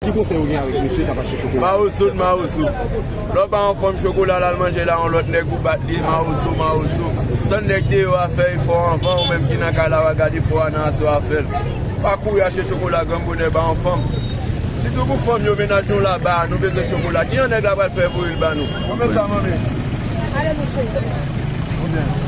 Ki konsèy ou gen avèk mesye kap achte chokola? Mawozo n mawozo Lè w pa anfòm chokola lal manje la yon lòt nèg ou bat li mawozo mawozo Tann nèg deyò a fè efò anvan ou menm ki nan kay la wa gad efò a nan aswè a fèl Pa kouri achte chokola gran bonè ba yon fanm Sitou pou fanm yo mennaj nou la ba nou bezwen chokola Kijan nèg la pral fè voye l ba nou Ou fè sa manmi Ale mouche Ou fè sa manmi Ale mouche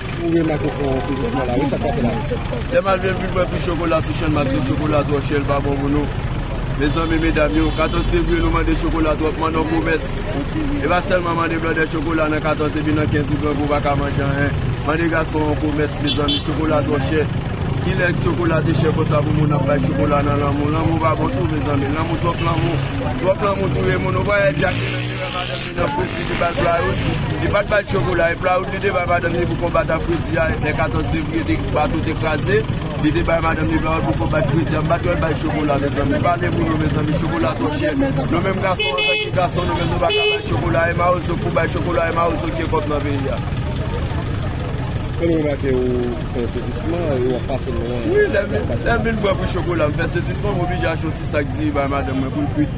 Ou remak ou fon sezisman la wi sak pase la. Lè mal vin vin pran pi chokola sou chèn maske chokola twò chè l pa bon pou nou mezanmi medam yo 14 fevriye nou mande chokola twòp manno komès e pa sèlman mande blòdè chokola nan 14 epi nan 15 ou grangou pa ka manje anyen mande gason an komès mezanmi chokola twò chè kilè chokola te chè konsa pou moun ap bay chokola nan lanmou lanmou pa bon tou mezanmi lanmou twòp lanmou twòp lanmou touye moun ou pa wè jacky nan ki rèv a dèm. Nan fredi li bal playout, li pat bal chokola, e playout li te bay madanm li pou konbat a fredi a lè 14 fevriye te bato te kraze, li te bay madanm li playout pou konbat fredi a, m pat wèl bay chokola mezanmi, pale pou nou mezanmi chokola twò chè, nou menm gason antank ki gason nou menm nou pa ka bay chokola, e mawozo pou bay chokola e mawozo gen kòb nan peyi a. Kòm ou remake ou fè yon sezisman e ou ap pase lwen. Wi lèm vin bwè pou chokola m fè sezisman m oblije achte yon ti sak diri bay madanm mwen poul kwit.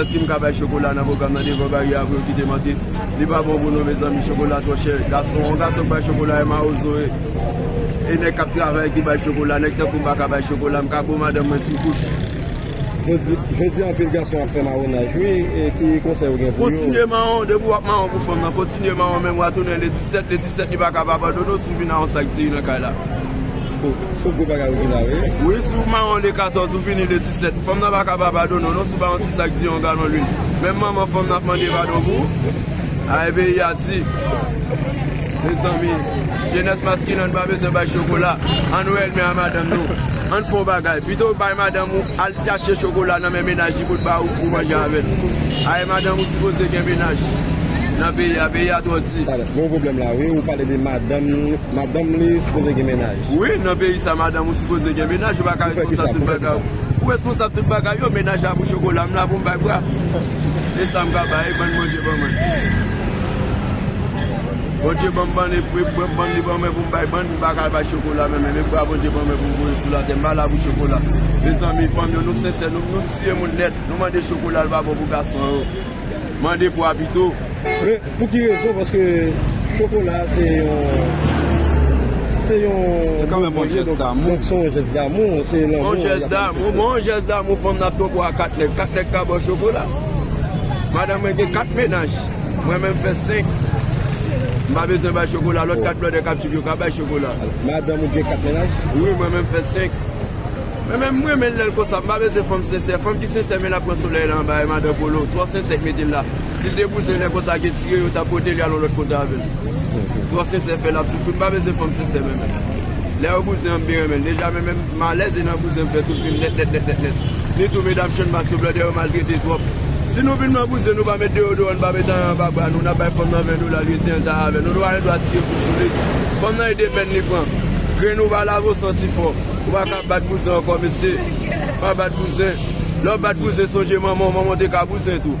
Eske m ka bay chokola nan pwogram nan devan baryè a pou yo kite m antre? Li pa bon pou nou mezanmi chokola twò chè. Gason, yon gason k bay chokola e mawozo e. E nèg k ap travay ki bay chokola. Nèg tankou m pa ka bay chokola. M ka bo madanm mwen sou kouch. Jodi a anpil gason ap fè mawonaj wi, ki konsèy ou gen pou yo? Kontinye mawon, depi w ap mawon pou fanm nan, kontinye mawon menm wa tounen le 17, le 17 li pa ka pa padone w si w vin a yon sak diri nan kay la. Bon, se gwo bagay ou di la wi. Wi, si w mawon le 14 ou vini le 17. Sèt, Fanm nan pa ka pa padone w non si w ba yon ti sak di yon galon lwil. Menm manman fanm nan ap mande padon pou ou. Ay peyi a di. Mezanmi, jenès maskilen an pa bezwen bay chokola. An nou ènmi a madanm nou. An fè yon bagay, pito ou bay madanm ou al chache chokola nan men menaj li pou l ba ou pou w manje avè l. Ay madanm ou sipoze gen menaj nan peyi a, peyi a twò di. Talè, gen yon pwoblèm la wi, ou pale de madanm li, madanm li sipoze gen menaj. Wi nan peyi sa madanm ou sipoze gen menaj ou paka responsab tout bagay ou ou responsab tout bagay yo menaj la pou chokola m la pou m bay bwa e sa m ka bay e bann Bondye ban mwen Bondye ban m bann e bann li ban mwen pou m bay bann m paka al bay chokola men menm e bwa Bondye ban mwen pou m voye sou latè m pa la pou chokola mezanmi fanm yo nou sensè nou nou tiye moun nèt nou mande chokola l pa bon pou gason yo mande bwa pito. Pou ki rezon paske chokola a se yon se yon se kan menm yon jès damou se yon jès damou se yon lanmou yon jès damou fanm nan ap tronpou a 4 nèg 4 nèg ka baw chokola madanm mwen gen 4 menaj mwen menm fè 5 m pa bezwen bay chokola lòt 4 blòdè kap tchoup yo ka bay chokola madanm ou gen 4 menaj wi mwen menm fè 5 mwen menm m renmen l lèl konsa m pa bezwen fanm sensè fanm ki sensè men lap pran solèy la anba e madan kolo twò sensè k metel la. Sil te bouzen nèg konsa gen tire yo tap potel yal yon lòt kote avèl trò sensè fè lap soufri mpa bezwen fanm sensè menmenl lè yo bouzen anm byen renmenl deja menmenm malèz e nan bouzen mfè tout vim nèt nèt nèt nèt nèt ni tou medam channmas yo blòdè yo maltrete tròp si nou vin nan bouzen nou pa met deyodoran nou pa met anyen anba bra nou nap bay fanm nan 20 dola lye si'en ta avè nou nou pa gen dwa tire pou souli fanm nan e de pèn li pran grenn ou pa lave ou santi fò ou paka bat bouzen ankò mesye pa bat bouzen lèw bat bouzen sonje manmanw manmanw te ka bouzen tou.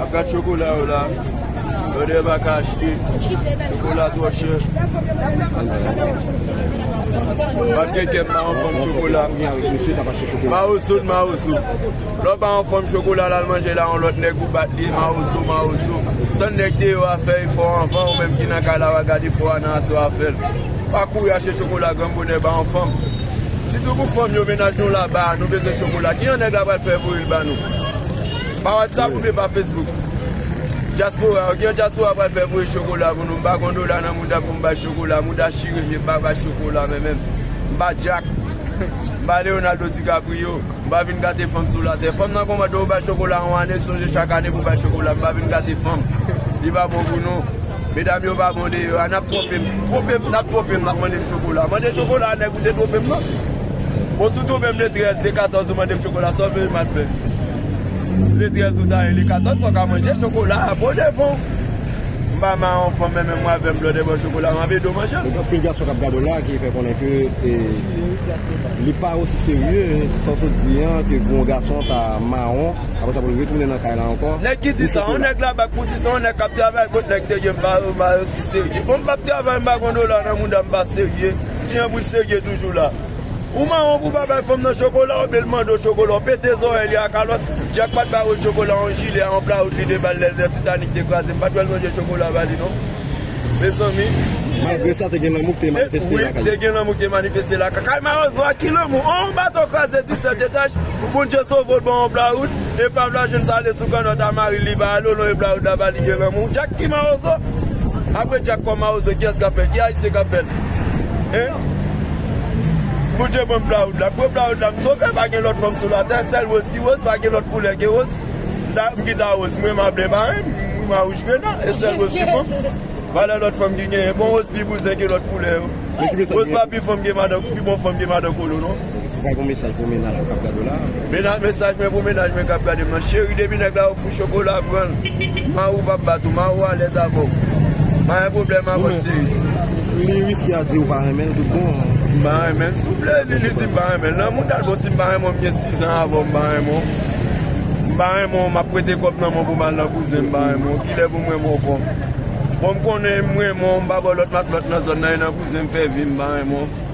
Ap gad chokola yo la. Brother pa ka achte. Chokola twò chè. Pat gen kèm pa an fòm chokola. Mawozo n mawozo. Lè w pa an fòm chokola lal manje la yon lòt nèg ou bat li mawozo mawozo. Tann nèg deyò a fè efò anvan ou menm ki nan kay la wal gad efò a nan aswè a fè l. Pa kouri achte chokola gran bonè pa an fòm. Sitou pou fanm yo mennaj nou la ba nou bezwen chokola. Ki jan nèg la pral fè voye l ba nou. Pa WhatsApp oubyen pa Facebook? Dyaspora, ok yon dyaspora pral fè voye chokola pou nou, m pa gon dola nan mouda pou m bay chokola, mouda chire vye m pa bay chokola mwen menm, m pa Jack, m pa Leonardo DiCaprio, m pa vin gate fanm sou latè. Fanm nan konmante ou bay chokola yon ane, sonje chak ane pou w bay chokola, m pa vin gate fanm, li pa bon pou nou, medam yo pa bon deyò a, n ap twope m, twope m, n ap twope m, n ap mande m chokola, mande chokola a nèg ou te twope m nan. Bon si w toube m le 13, le 14 ou mande m chokola sa w vle m al fè? Le 13 ou ta ye le 14 fò w ka manje chokola a bon devan w. M pa ma yon fanm menmenm w avè m lòt ebò chokola m ap ede w manje l. Gen anpil gason k ap gade w la ki fè konnen ke li pa osi serye sa w sot di an ke pou yon gason ta mawon apre sa pou l retounen nan kay la ankò. Nèg ki di sa yon nèg la bak pou di sa yon nèg k ap travay kot nèg te gen m pa osi serye. Bon m p ap travay m pa gen yon dola nan mouda m pa serye. Tijan bouch sege toujou la. Ou mawon pou pa bay fanm nan chokola oubyen l mande w chokola, w pete zòrèy li a kalòt, Jack pat ba Rose chokola yon jile a yon pla Rose vide bal lè lè Titanic te kraze m pat wè l manje chokola ba li non mezanmi. Malgre sa te gen lanmou ki te manifeste lakay yo. Te gen lanmou ki te manifeste lakay. Kay mawozo a ki lanmou? On bato kraze 17 etaj pou Bondye sove w l ban w yon pla Rose. Epav la jwenn sa li sou kannòt a mari li pa ale w non epla la ba li gen lanmou Jack ki mawozo apre Jack kò mawozo kiyès kap fèl ki ayisyen kap fèl hein Bondye banm plaoud la m pran plaoud la m sove pa gen lòt fanm sou latè sèl Rose ki Rose pa gen lòt koulè ke Rose m ta m ki ta Rose m renmen a ble maren m m a wouj krena e sèl Rose ki bon valè lòt fanm ki genyen bon Rose pi bouzen ke lòt koulè yo Rose pa pi fanm ke madan pi bon fanm ke madan kolo non. Fok mwen gen yon mesaj pou mennaj mwen kap gade w la. Mesaj mwen pou mennaj mwen kap gade m lan, cheri depi nèg la ofri w chokola pran l, mari w pap bat ou, mari w alèz avè w, pa gen pwoblèm avè w cheri. Li riske a di ou pa renmen l tout bon. M pa renmen l souple li di m pa renmen l, lanmou dat bon si m pa renmen w m gen 6 ans avè w m pa renmen w, m pa renmen w map prete kòb nan men w pou m al nan bouzen m pa renmen w, kilè pou m renmen w ankò? Fò m konnen m renmen w m pa ba w lòt matlòt nan zòn nan e nan bouzen m fè vi m pa renmen w.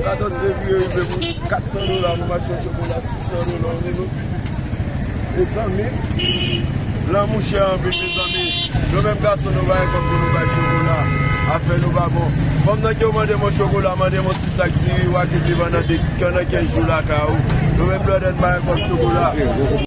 Gadon seri yo rive pou 400 dola pou machan chokola 600 dola ou vin ofri li mezanmi lanmou chè anpil mezanmi nou menm gason nou pa gen kòb pou nou bay chokola afè nou pa bon fanm nan diw mandem yon chokola mandem yon ti sak diri wap vin li vann nan 2 nan 15 jou lakay ou nou menm blòdè nou pa gen kòb chokola.